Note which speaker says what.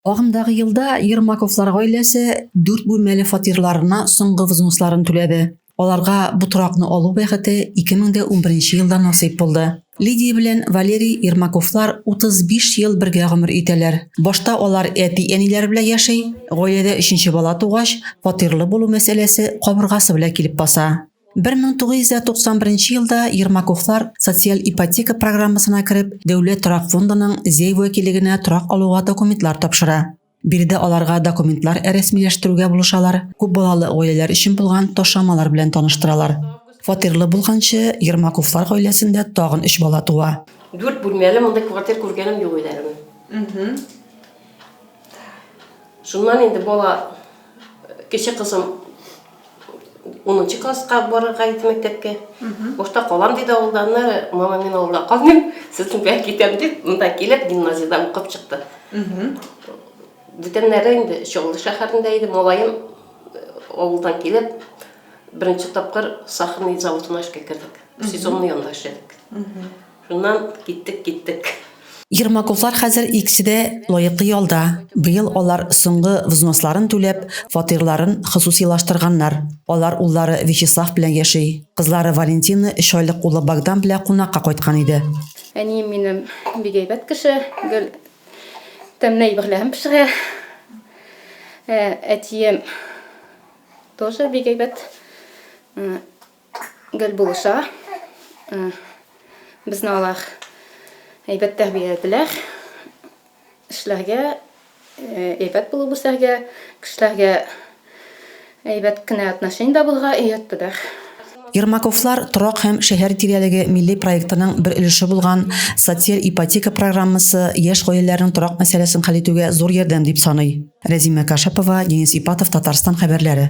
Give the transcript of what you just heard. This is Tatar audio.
Speaker 1: Агымдагы елда Ермаковлар гаиләсе дүрт бүлмәле фатирларына соңгы взносларын түләде. Аларга бу торакны алу бәхете 2011 елда насыйп булды. Лидия белән Валерий Ермаковлар 35 ел бергә гомер итәләр. Башта алар әти-әниләре белән яши, гаиләдә өченче бала тугач, фатирлы булу мәсьәләсе кабыргасы белән килеп баса. 1991 елда Ермаковлар социаль ипотека программасына кереп, Дәүләт торак фондының Зәй вәкилегенә торак алуга документлар тапшыра. Биредә аларга документлар рәсмиләштерүгә булышалар, күп балалы гаиләләр өчен булган ташламалар белән таныштыралар. Фатирлы булганчы, Ермаковлар гаиләсендә тагын өч бала туа. Дүрт бүлмәле мондый
Speaker 2: квартир күргәнем юк өйләрен. Шуннан инде бала Кече кызым унынчы класска барырга иде мәктәпкә. Бушта калам диде авылда, аны мама мин авылда калмыйм, сезнең белән китәм дип, монда килеп гимназиядә укып чыкты. Бүтәннәре инде Чаллы шәһәрендә иде, малаем авылдан килеп, беренче тапкыр сахарный заводына эшкә кердек. Сезонный анда эшләдек. Шуннан киттек, киттек. Ермаковлар
Speaker 1: хәзер икесе дә лаеклы ялда. Быел алар соңгы взносларын түләп, фатирларын хосусыйлаштырганнар. Алар уллары Вячеслав белән яши. Кызлары Валентина өч айлык улы Богдан белән кунакка кайткан иде. Әнием минем
Speaker 3: бик әйбәт кеше, гел тәмле әйберләрен пешерә. Әтием тоже бик әйбәт. гел булыша. Безне алар әйбәт тәрбияләделәр. Эшләргә, әйбәт булып үсәргә, кешеләргә әйбәт кенә отношениедә булырга өйрәттеләр. Ермаковлар
Speaker 1: торак һәм шәһәр тирәлеге милли проектының бер өлеше булган Социаль ипотека программасы яшь гаиләләрнең торак мәсьәләсен хәл итүгә зур ярдәм дип саный. Рәзимә Кашапова, Денис Ипатов, Татарстан хәбәрләре.